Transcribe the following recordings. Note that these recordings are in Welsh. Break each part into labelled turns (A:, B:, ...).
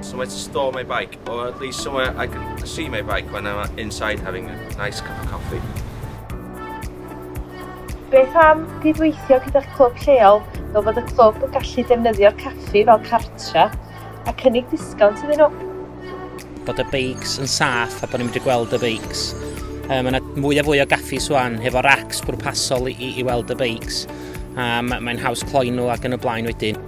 A: So where to store
B: my bike, or at least somewhere I can see my bike when I'm inside having a nice cup of coffee.
C: Beth am gydweithio gyda'ch clwb lleol fel bod y clwb yn gallu defnyddio'r caffi fel cartra a cynnig disgownt iddyn nhw? Bod
D: y beics yn saff a bod ni'n mynd i gweld y beics. Um, mae yna mwy a fwy o gaffi swan hefo racks bwrpasol i, i, i weld y beics. Um, mae'n haws cloi nhw ac yn y blaen wedyn.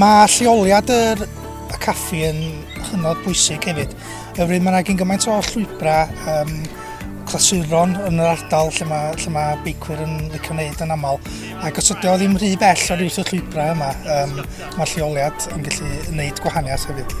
E: Mae
F: lleoliad yr y caffi yn hynod bwysig hefyd, oherwydd mae yna gyn gymaint o llwybrau um, clasuron yn yr ardal lle mae, lle mae beicwyr yn licio wneud yn aml. Ac os ydy o ddim rhy bell o'r wrth y llwybrau yma, um, mae lleoliad yn gallu gwneud gwahaniaeth hefyd.